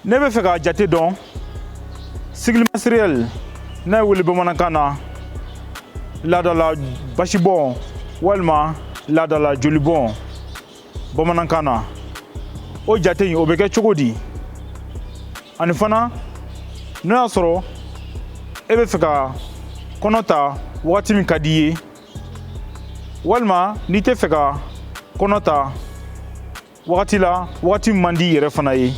n'e bɛ fɛ k'a jate dɔn cycle menstruel n'a bɛ wele bamanankan na laadala basibɔn walima laadala jolibɔn bamanankan na o jate in o bɛ kɛ cogo di ani fana n'o y'a sɔrɔ e bɛ fɛ ka kɔnɔ ta wagati min ka di i ye walima n'i tɛ fɛ ka kɔnɔ ta wagati la wagati man di yɛrɛ fana ye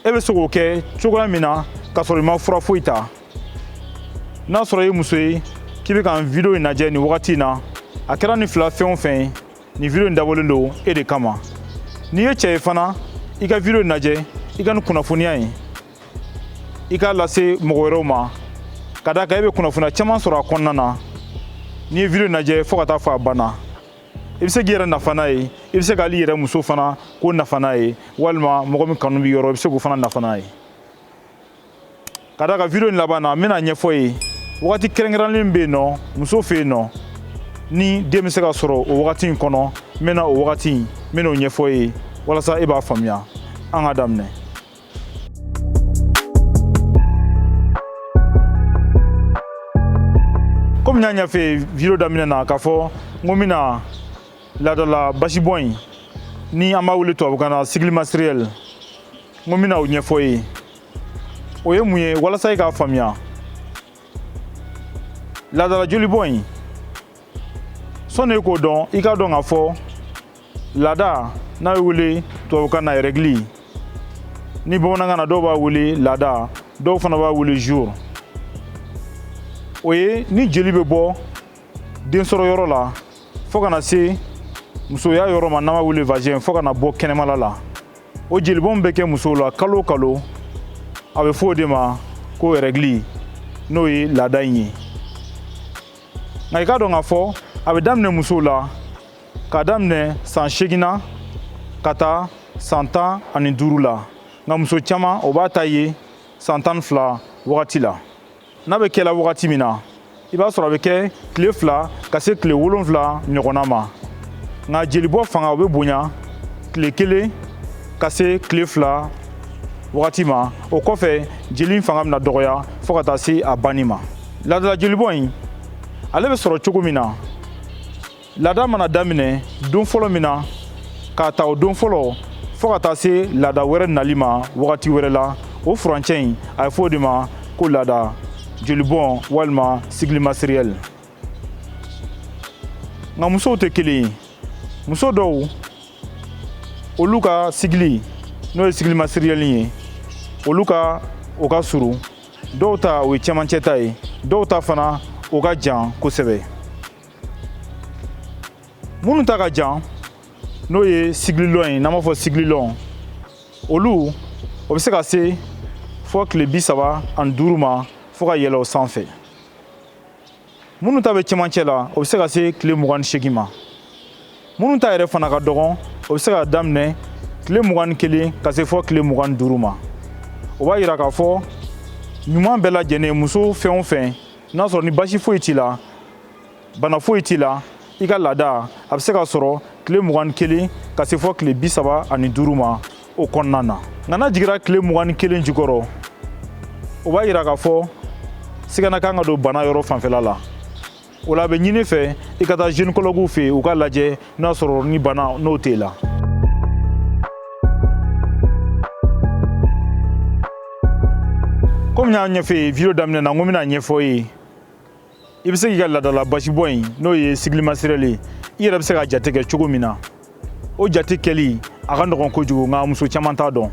e bɛ se k'o kɛ cogoya min na k'a sɔrɔ i ma fura foyi ta n'a sɔrɔ i ye muso ye k'i bɛ ka nin video in lajɛ nin wagati in na a kɛra nin fila fɛn o fɛn ye nin video in dabɔlen don e de kama n'i ye cɛ ye fana i ka video in lajɛ i ka nin kunnafoniya in i k'a lase mɔgɔ wɛrɛw ma ka d'a kan e bɛ kunnafoniya caman sɔrɔ a kɔnɔna na n'i ye video in lajɛ fo ka taa fo a banna i bɛ se k'i yɛrɛ nafa n'a ye i bɛ se k'ali i yɛrɛ muso fana k'o nafa n'a ye walima mɔgɔ min kanu b'i yɔrɔ i bɛ se k'o fana nafa n'a ye ka d'a kan video in laban na n bɛna ɲɛfɔ i ye wagati kɛrɛnkɛrɛnlen bɛ yen nɔ muso fɛ yen nɔ ni den bɛ se ka sɔrɔ o wagati in kɔnɔ n bɛna o wagati n bɛna o ɲɛfɔ i ye walasa e b'a faamuya an ka daminɛ komi n y'a ɲɛfɔ video daminɛ na k'a fɔ n ko n bɛna laadala basibɔn in ni an b'a wele tubabukan na cycle menstruel n ko n bɛna o ɲɛfɔ i ye o ye mun ye walasa i k'a faamuya laadala jolibɔn in sɔnni i k'o dɔn i k'a dɔn k'a fɔ laada n'a bɛ wele tubabukan na règles ni bamanankan na dɔw b'a wele laada dɔw fana b'a wele jour o ye ni jeli bɛ bɔ den sɔrɔ yɔrɔ la fo ka na se musoya yɔrɔ ma n'an b'a wele vagin fo ka na bɔ kɛnɛmala la o jelibɔn bɛ kɛ musow la kalo o kalo a bɛ fɔ o de ma ko règles n'o ye laada in ye nka i k'a dɔn k'a fɔ a bɛ daminɛ musow la k'a daminɛ san segin na ka taa san tan ani duuru la nka muso caman o b'a ta ye san tan ni fila wagati la n'a bɛ kɛla wagati min na i b'a sɔrɔ a bɛ kɛ tile fila ka se tile wolonfila ɲɔgɔnna ma nka jelibɔ fanga o bɛ bonya tile kelen ka se tile fila wagati ma o kɔfɛ jeli fanga bɛna dɔgɔya fo ka taa se a banni ma laadala jelibɔn in ale bɛ sɔrɔ cogo min na laada mana daminɛ don fɔlɔ min na k'a ta o don fɔlɔ fɔɔ ka taa se laada wɛrɛ nali ma wagati wɛrɛ la o furancɛ in a ye fɔ o de ma ko laada jolibɔn walima cycle menstruel nka musow tɛ kelen ye muso dɔw olu ka cycle n'o ye cycle menstruel ye olu ka o ka surun dɔw ta o ye cɛmancɛ ta ye dɔw ta fana o ka jan kosɛbɛ minnu ta ka jan n'o ye cycle long ye n'an b'a fɔ cycle long olu o bɛ se ka se fɔ tile bi saba ani duuru ma fo ka yɛlɛ o sanfɛ minnu ta bɛ cɛmancɛ la o bɛ se ka se tile mugan ni seegin ma minnu ta yɛrɛ fana ka dɔgɔn o bɛ se ka daminɛ tile mugan ni kelen ka se fɔ tile mugan ni duuru ma o b'a yira k'a fɔ ɲuman bɛɛ lajɛlen muso fɛn o fɛn n'a sɔrɔ ni basi foyi t'i la bana foyi t'i la i ka laada a bɛ se ka sɔrɔ tile mugan ni kelen ka se fɔ tile bi saba ani duuru ma o kɔnɔna na nka n'a jigira tile mugan ni kelen jukɔrɔ o b'a yira k'a fɔ sigana ka kan ka don bana yɔrɔ fanfɛla la o la a bɛ ɲini i fɛ i ka taa gynécologue fɛ yen u k'a lajɛ n'a sɔrɔ ni bana nɔ t'e la komi n y'a ɲɛfɔ i ye vidéo daminɛ na n ko n bɛn'a ɲɛfɔ i ye i bɛ se k'i ka laadala basibɔ in n'o ye cycle menstruel ye i yɛrɛ bɛ se k'a jate kɛ cogo min na o jate kɛli a ka nɔgɔn kojugu nka muso caman t'a dɔn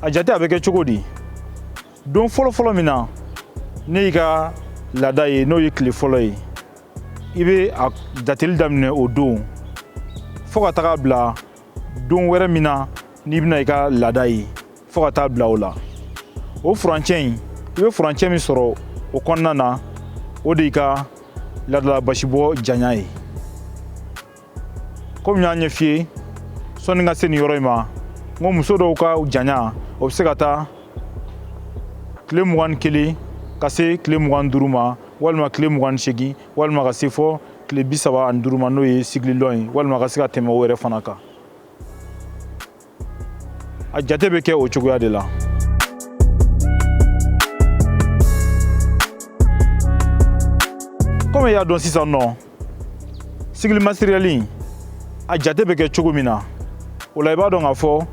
a jate a bɛ kɛ cogo di don fɔlɔfɔlɔ min na n'i y'i ka laada ye n'o ye tile fɔlɔ ye i bɛ a jateli daminɛ o don fo ka taga bila don wɛrɛ min na n'i bɛna i ka laada ye fo ka taa bila o la o furancɛ in i bɛ furancɛ min sɔrɔ o kɔnɔna na o de y'i ka laadala basibɔ janya ye komi n y'a ɲɛf'i ye sɔnni ka se nin yɔrɔ in ma n ko muso dɔw ka janya o bɛ se ka taa tile mugan ni kelen ka se tile mugan ni duuru ma walima tile mugan ni seegin walima ka se fɔ tile bi saba ani duuru ma n'o ye cycle long ye walima ka se ka tɛmɛ o yɛrɛ fana kan a jate bɛ kɛ o cogoya de la komi i y'a dɔn sisan nɔ cycle menstruel a jate bɛ kɛ cogo min na o la i b'a dɔn k'a fɔ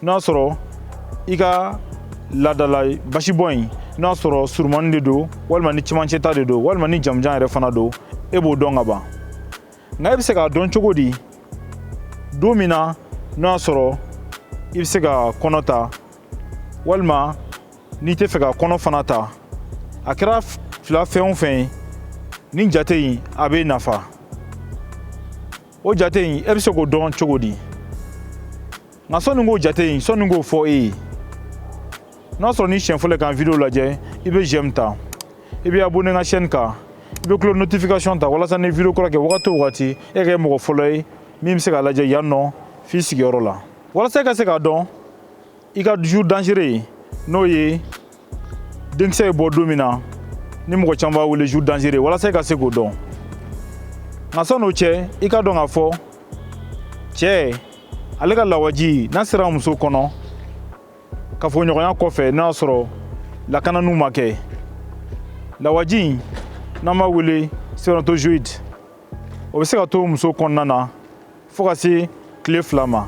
n'a sɔrɔ i ka laadala basibɔn in n'a sɔrɔ surumani de don walima ni cɛmancɛta de don walima ni jamanjan yɛrɛ fana don e b'o dɔn ka ban nka e bɛ se k'a dɔn cogo di don min na n'o y'a sɔrɔ i bɛ se ka kɔnɔ ta walima n'i tɛ fɛ ka kɔnɔ fana ta a kɛra fila fɛn o fɛn ye nin jate in a bɛ nafa o jate in e bɛ se k'o dɔn cogo di nka sɔnni k'o jate in sɔnni k'o fɔ e ye n'a sɔrɔ n'i siɲɛ fɔlɔ k'an video lajɛ i bɛ j'aime ta i bɛ abonné n ka chaîne kan i bɛ cloche notification ta walasa ni video kura kɛ wagati o wagati e ka kɛ mɔgɔ fɔlɔ ye min bɛ se k'a lajɛ yan nɔ f'i sigiyɔrɔ la walasa e ka se k'a dɔn i ka jour dangereux n'o ye denkisɛ ye bɔ don min na ni mɔgɔ caman b'a wele jour dangereux walasa i ka se k'o dɔn nka san'o cɛ i ka dɔn k'a fɔ cɛ ale ka lawaji n'a sera muso kɔnɔ kafoɲɔgɔnya kɔfɛ n'a y'a sɔrɔ lakananiw ma kɛ lawaji in n'an b'a wele spermatozoïde o bɛ se ka to muso kɔnɔna na fo ka se tile fila ma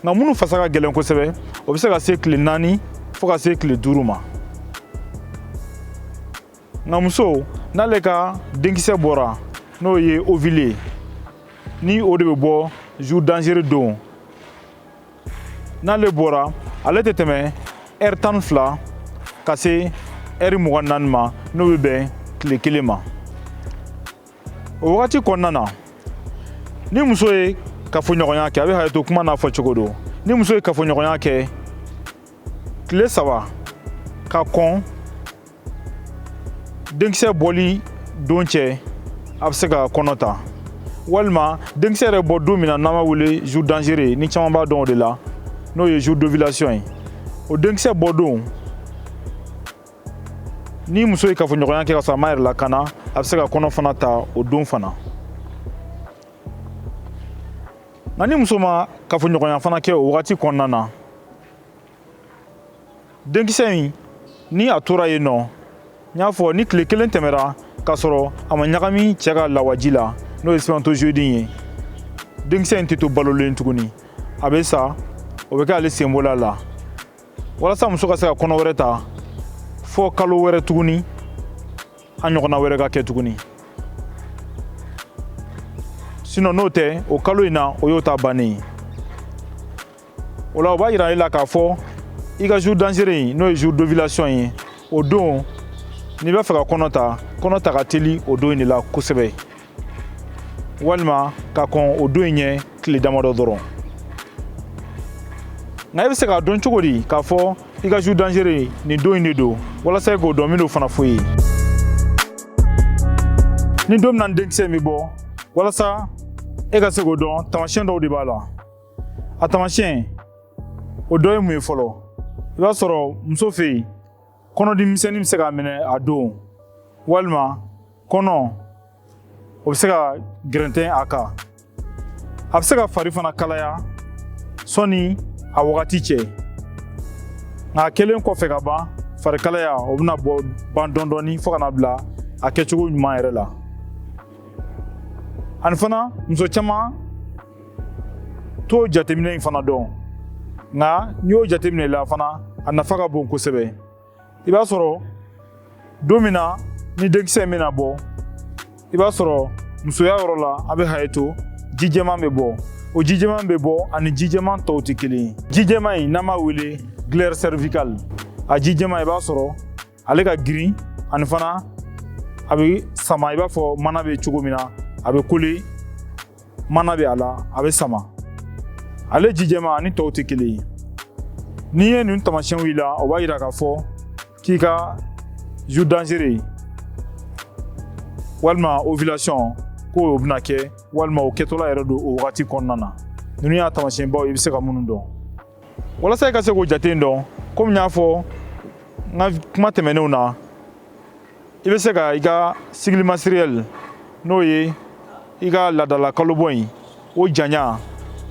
nka minnu fasa ka gɛlɛn kosɛbɛ o bɛ se ka se tile naani fo ka se tile duuru ma nka muso n'ale ka denkisɛ bɔra n'o ye ovule ye ni o de bɛ bɔ jour dangereux don n'ale bɔra ale tɛ tɛmɛ ɛri tan ni fila ka se ɛri mugan naani ma n'o bɛ bɛn tile kelen ma o wagati kɔnɔna na ni muso ye kafoɲɔgɔnya kɛ a bɛ hakɛto kuma n'a fɔcogo don ni muso ye kafoɲɔgɔnya kɛ tile saba ka kɔn denkisɛ bɔli don cɛ a bɛ se ka kɔnɔ ta walima denkisɛ yɛrɛ bɔ don min na n'an b'a wele jour dangereux ni caman b'a dɔn o de la n'o ye jour d'ovulation ye o denkisɛ bɔ don ni muso ye kafoɲɔgɔnya kɛ ka sɔrɔ a m'a yɛrɛ lakana a bɛ se ka kɔnɔ fana ta o don fana nka ni muso ma kafoɲɔgɔnya fana kɛ o wagati kɔnɔna na denkisɛ in ni a tora yen nɔ n y'a fɔ ni tile kelen tɛmɛra k'a sɔrɔ a ma ɲagami cɛ ka lawaji la n'o ye spermatozoïde in ye denkisɛ in tɛ to balolen tuguni a bɛ sa o bɛ kɛ ale sen bɔl'a la walasa muso ka se ka kɔnɔ wɛrɛ ta fo kalo wɛrɛ tuguni a ɲɔgɔnna wɛrɛ ka kɛ tuguni sinon n'o tɛ o kalo in na o y'o ta bannen ye o la o b'a yira e la k'a fɔ i ka jour dangereux in n'o ye jour d'ovulation ye o don n'i b'a fɛ ka kɔnɔ ta kɔnɔta ka teli o don in de la kosɛbɛ walima ka kɔn o don in ɲɛ tile damadɔ dɔrɔn nka i bɛ se k'a dɔn cogo di k'a fɔ i ka jour dangereux nin don in de don walasa i k'o dɔn min don fana fo ye ni don min na denkisɛ in bɛ bɔ walasa e ka se k'o dɔn taamasiyɛn dɔw de b'a la a taamasiyɛn o dɔ ye mun ye fɔlɔ i b'a sɔrɔ muso fɛ yen kɔnɔdimisɛnnin bɛ se k'a minɛ a don walima kɔnɔ o bɛ se ka gɛrɛntɛ a kan a bɛ se ka fari fana kalaya sɔni a wagati cɛ nka a kɛlen kɔfɛ ka ban fari kalaya o bɛna bɔ ban dɔɔni dɔɔni fo ka na bila a kɛcogo ɲuman yɛrɛ la ani fana muso caman t'o jateminɛ in fana dɔn nka ni o jateminɛla fana a nafa ka bon kosɛbɛ i b'a sɔrɔ don min na ni denkisɛ in bɛna bɔ i b'a sɔrɔ musoya yɔrɔ la a bɛ haye to ji jɛman bɛ bɔ o ji jɛman bɛ bɔ ani ji jɛman tɔw tɛ kelen ye ji jɛman in n'an b'a wele glaire cervicale a ji jɛman i b'a sɔrɔ ale ka girin ani fana a bɛ sama i b'a fɔ mana bɛ cogo min na a bɛ kole mana bɛ a la a bɛ sama ale ji jɛma ani tɔw tɛ kelen ye n'i ye ninnu tamasiyɛnw y'i la o b'a yira k'a fɔ k'i ka jour dangereux walima ovulation ko o bɛna kɛ walima o kɛtɔla yɛrɛ don o wagati kɔnɔna na ninnu y'a tamasiyɛnbaw i bɛ se ka minnu dɔn walasa i ka se k'o jate dɔn komi n y'a fɔ n ka kuma tɛmɛnenw na i bɛ se ka i ka cycle menstruel n'o ye i ka laadala kalobɔ in o janya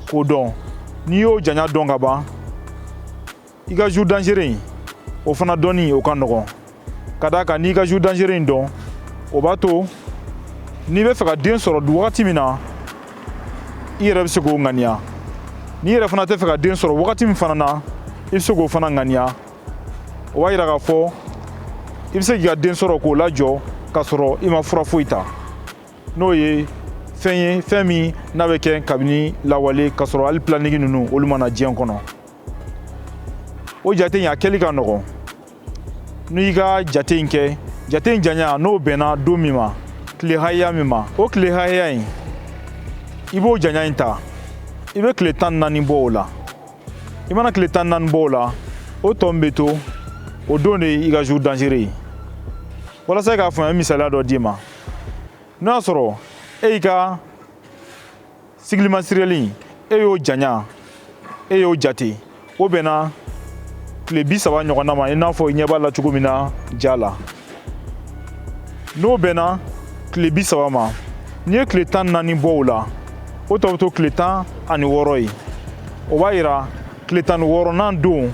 k'o dɔn n'i y'o janya dɔn ka ban i ka jour dangereux in o fana dɔnni o ka nɔgɔn ka d'a kan n'i ka jour dangereux in dɔn o b'a to n'i bɛ fɛ ka den sɔrɔ wagati min na i yɛrɛ bɛ se k'o ŋaniya n'i yɛrɛ fana tɛ fɛ ka den sɔrɔ wagati min fana na i bɛ se k'o fana ŋaniya o b'a yira k'a fɔ i bɛ se k'i ka den sɔrɔ k'o lajɔ k'a sɔrɔ i ma fura foyi ta n'o ye fɛn ye fɛn min n'a bɛ kɛ kabini lawale k'a sɔrɔ hali planning ninnu olu ma na diɲɛ kɔnɔ o jate in a kɛli ka nɔgɔn n'i ka jate in kɛ jate in janya n'o bɛnna don min ma tile hakɛya min ma o tile hakɛya in i b'o janya in ta i bɛ tile tan naani bɔ o la i mana tile tan naani bɔ o la o tɔ min bɛ to o don de i ka jour dangereux ye walasa i k'a faamuya misaliya dɔ d'i ma n'o y'a sɔrɔ e y'i ka cycle menstruel e y'o janya e y'o jate o bɛnna tile bi saba ɲɔgɔnna ma i n'a fɔ i ɲɛ b'a la cogo min na ja la n'o bɛnna tile bi saba ma n'i ye tile tan naani bɔ o la o tɔ bɛ to tile tan ani wɔɔrɔ ye o b'a yira tile tan ni wɔɔrɔnan don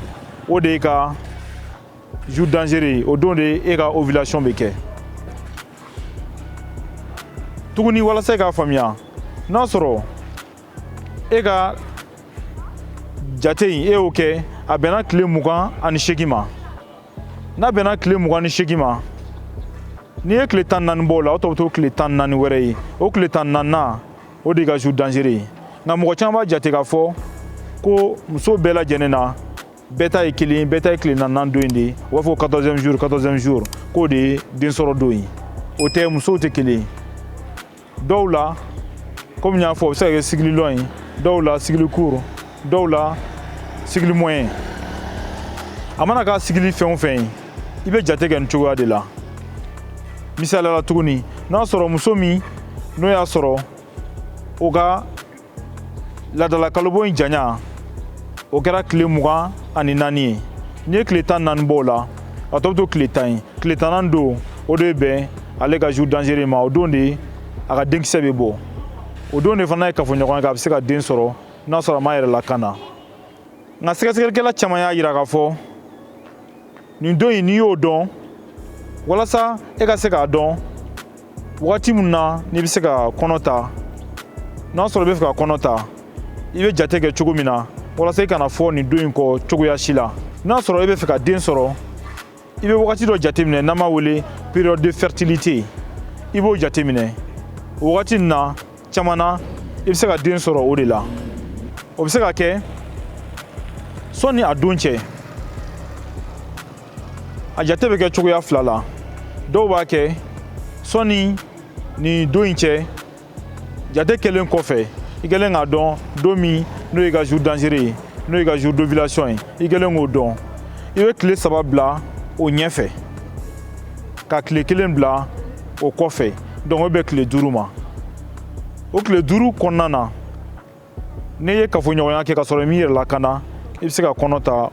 o de y'e ka jour dangereux o don de e ka ovulation bɛ kɛ tuguni walasa i k'a faamuya n'a sɔrɔ e ka jate in e y'o kɛ a bɛnna tile mugan ani seegin ma n'a bɛnna tile mugan ni seegin ma n'i ye tile tan naani bɔ o la o tɔ bɛ to tile tan naani wɛrɛ ye o tile tan naaninan o de y'i ka jour dangereux ye nka mɔgɔ caman b'a jate k'a fɔ ko muso bɛɛ lajɛlen na bɛɛ ta ye kelen bɛɛ ta ye tile tan naaninan don in de ye u b'a fɔ ko 14ème jour 14ème jour k'o de ye den sɔrɔ don ye o tɛ musow tɛ kelen ye dɔw la komi n y'a fɔ o bɛ se ka kɛ cycle long ye dɔw la cycle court dɔw la cycle moyen a mana kɛ cycle fɛn o fɛn ye i bɛ jate kɛ nin cogoya de la misali la tuguni n'a sɔrɔ muso min n'o y'a sɔrɔ o ka laadala kalobɔ in janya o kɛra tile mugan ani naani ye n'i ye tile tan naani bɔ o la a tɔ bɛ to tile tan ye tile tannan don o de bɛ bɛn ale ka jour dangereux ma o don de a ka denkisɛ bɛ bɔ o don de fana ye kafoɲɔgɔnya kɛ a bɛ se ka den sɔrɔ n'a sɔrɔ a m'a yɛrɛ lakana nka sɛgɛsɛgɛlikɛla caman y'a yira k'a fɔ nin don in n'i y'o dɔn walasa e ka se k'a dɔn wagati min na n'i bɛ se ka kɔnɔ ta n'a sɔrɔ i bɛ fɛ ka kɔnɔ ta i bɛ jate kɛ cogo min na walasa i kana fɔ nin don in kɔ cogoya si la n'a sɔrɔ i bɛ fɛ ka den sɔrɔ i bɛ wagati dɔ jateminɛ n'an b'a wele période de fertilité i b'o jateminɛ o wagati nin na caman na i bɛ se ka den sɔrɔ o de la o bɛ se ka kɛ sɔni a don cɛ a jate bɛ kɛ cogoya fila la dɔw b'a kɛ sɔni nin don in cɛ jate kɛlen kɔfɛ i kɛlen k'a dɔn don min n'o y'i ka jour dangereux ye n'o y'i ka jour d'ovulation ye i kɛlen k'o dɔn i bɛ tile saba bila o ɲɛfɛ ka tile kelen bila o kɔfɛ donc o bɛ bɛn tile duuru ma o tile duuru kɔnɔna na n'i ye kafoɲɔgɔnya kɛ ka sɔrɔ i m'i yɛrɛ lakana i bɛ se ka kɔnɔ ta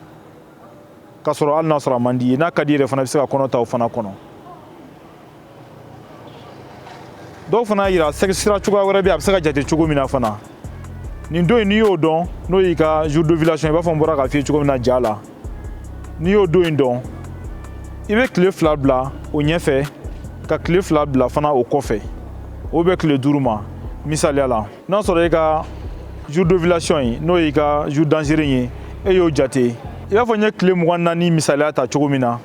ka sɔrɔ hali n'a sɔrɔ a man d'i ye n'a ka di yɛrɛ fana i bɛ se ka kɔnɔ ta o fana kɔnɔ dɔw fana y'a yira sira cogoya wɛrɛ bɛ a bɛ se ka jate cogo min na fana nin don in n'i y'o dɔn n'o y'i ka jour d'ovulation i n'a fɔ n bɔra k'a f'i ye cogo min na ja la n'i y'o don in dɔn i bɛ tile fila bila o ɲɛfɛ ka tile fila bila fana o kɔfɛ o bɛ tile duuru ma misaliya la n'a sɔrɔ i ka jour d'ovulation ye n'o y'i ka jour dangereux in ye e y'o jate i b'a fɔ n ye tile mugan naani misaliya ta cogo min na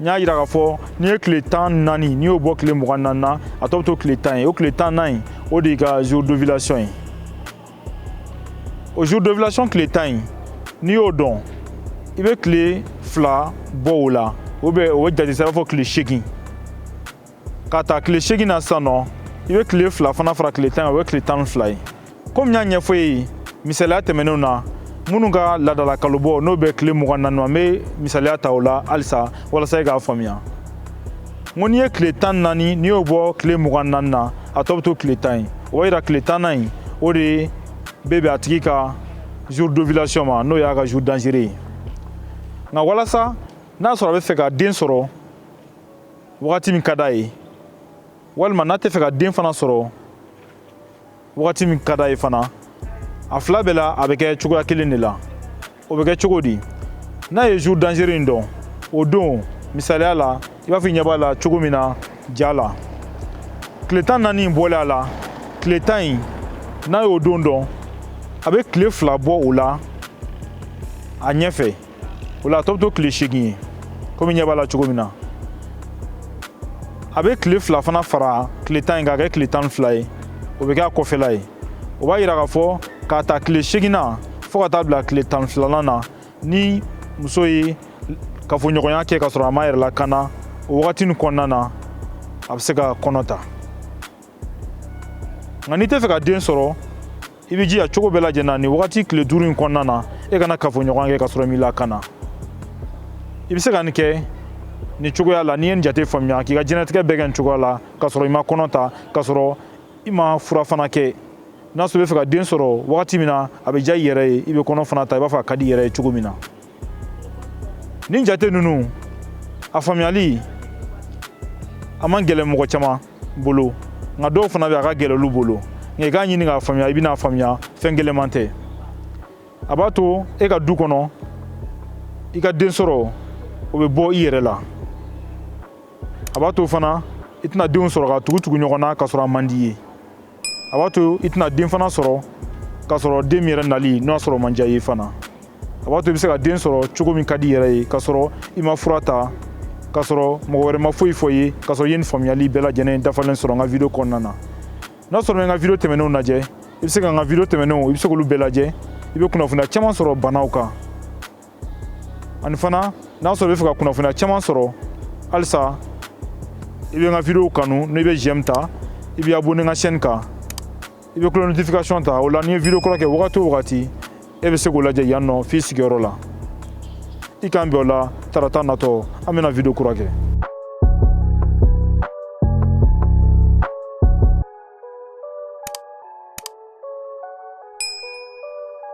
n y'a yira k'a fɔ n'i ye tile tan naani n'i y'o bɔ tile mugan naani na a tɔ bɛ to tile tan ye o tile tannan in o de y'i ka jour d'ovulation ye o jour d'ovulation tile tan in n'i y'o dɔn i bɛ tile fila bɔ o la o bɛ o bɛ jate sa i b'a fɔ tile seegin ka ta tile seegin na sisan nɔ i bɛ tile fila fana fara tile tan kan o ye tile tan ni fila ye komi n y'a ɲɛfɔ e ye misaliya tɛmɛnenw na minnu ka laadala kalobɔ n'o bɛ tile mugan naani ma n bɛ misaliya ta o la halisa walasa e k'a faamuya n ko n'i ye tile tan naani n'i y'o bɔ tile mugan naani na a tɔ bɛ to tile tan ye o b'a yira tile tannan in o de bɛ bɛn a tigi ka jour d'ovulation ma n'o y'a ka jour dangereux ye nka walasa n'a sɔrɔ a bɛ fɛ ka den sɔrɔ wagati min ka d'a ye walima n'a tɛ fɛ ka den fana sɔrɔ wagati min ka d'a ye fana a fila bɛɛ la a bɛ kɛ cogoya kelen de la o bɛ kɛ cogo di n'a ye jour dangereux in dɔn o don misaliya la i b'a fɔ i ɲɛ b'a la cogo min na ja la tile tan naani in bɔlen a la tile tan in n'a y'o don dɔn a bɛ tile fila bɔ o la a ɲɛfɛ o la a tɔ bɛ to tile seegin ye komi ɲɛ b'a la cogo min na a bɛ tile fila fana fara tile tan in k'a kɛ tile tan ni fila ye o bɛ kɛ a kɔfɛla ye o b'a yira k'a fɔ k'a ta tile seegin na fɔɔ ka taa bila tile tan filanan na ni muso ye kafoɲɔgɔnya kɛ ka sɔrɔ a m'a yɛrɛ lakana o wagati in kɔnɔna na a bɛ se ka kɔnɔ ta nka n'i tɛ fɛ ka den sɔrɔ i bɛ jija cogo bɛɛ lajɛlen na nin wagati tile duuru in kɔnɔna na e kana kafoɲɔgɔnya kɛ ka sɔrɔ i m'i lakana i bɛ se ka nin kɛ nin cogoya la n'i ye nin jate faamuya k'i ka diɲɛnatigɛ bɛɛ kɛ nin cogoya la ka sɔrɔ i ma kɔnɔ ta ka sɔrɔ i ma fura fana kɛ n'a sɔrɔ i bɛ fɛ ka den sɔrɔ wagati min na a bɛ diya i yɛrɛ ye i bɛ kɔnɔ fana ta i b'a fɔ a ka di i yɛrɛ ye cogo min na nin jate ninnu a faamuyali a man gɛlɛn mɔgɔ caman bolo nka dɔw fana bɛ a ka gɛlɛn olu bolo nka i k'a ɲini k'a faamuya i bɛna faamuya fɛn gɛlɛnman tɛ a b'a to e ka du kɔnɔ i ka den sɔrɔ o bɛ bɔ i yɛrɛ la a b'a to fana i tɛna denw sɔrɔ ka tugu tugu ɲɔgɔn na k'a sɔrɔ a man d'i ye a b'a to i tɛna den fana sɔrɔ k'a sɔrɔ den min yɛrɛ nali n'a sɔrɔ man di a ye fana a b'a to i bɛ se ka den sɔrɔ cogo min ka d'i yɛrɛ ye k'a sɔrɔ i ma fura ta k'a sɔrɔ mɔgɔ wɛrɛ ma foyi fɔ i ye k'a sɔrɔ i ye nin faamuyali bɛɛ lajɛlen dafalen sɔrɔ n ka video kɔnɔna na n'a sɔrɔ i ma n ka video tɛmɛnenw lajɛ i bɛ se ka n ka video tɛmɛnenw i bɛ se k'olu bɛɛ lajɛ i bɛ kunnafoniya caman sɔrɔ banaw kan ani fana n'a sɔrɔ i b'a fɛ ka kunnafoniya caman sɔrɔ halisa i bɛ n ka video kanu n'i bɛ j'aime ta i bɛ abonné n ka chaîne kan i bɛ cloche notification ta o la ni n ye video kura kɛ wagati o wagati e bɛ se k'o lajɛ yan nɔ f'i sigiyɔrɔ la i k'an bɛn o la tarata natɔ an bɛna video kura kɛ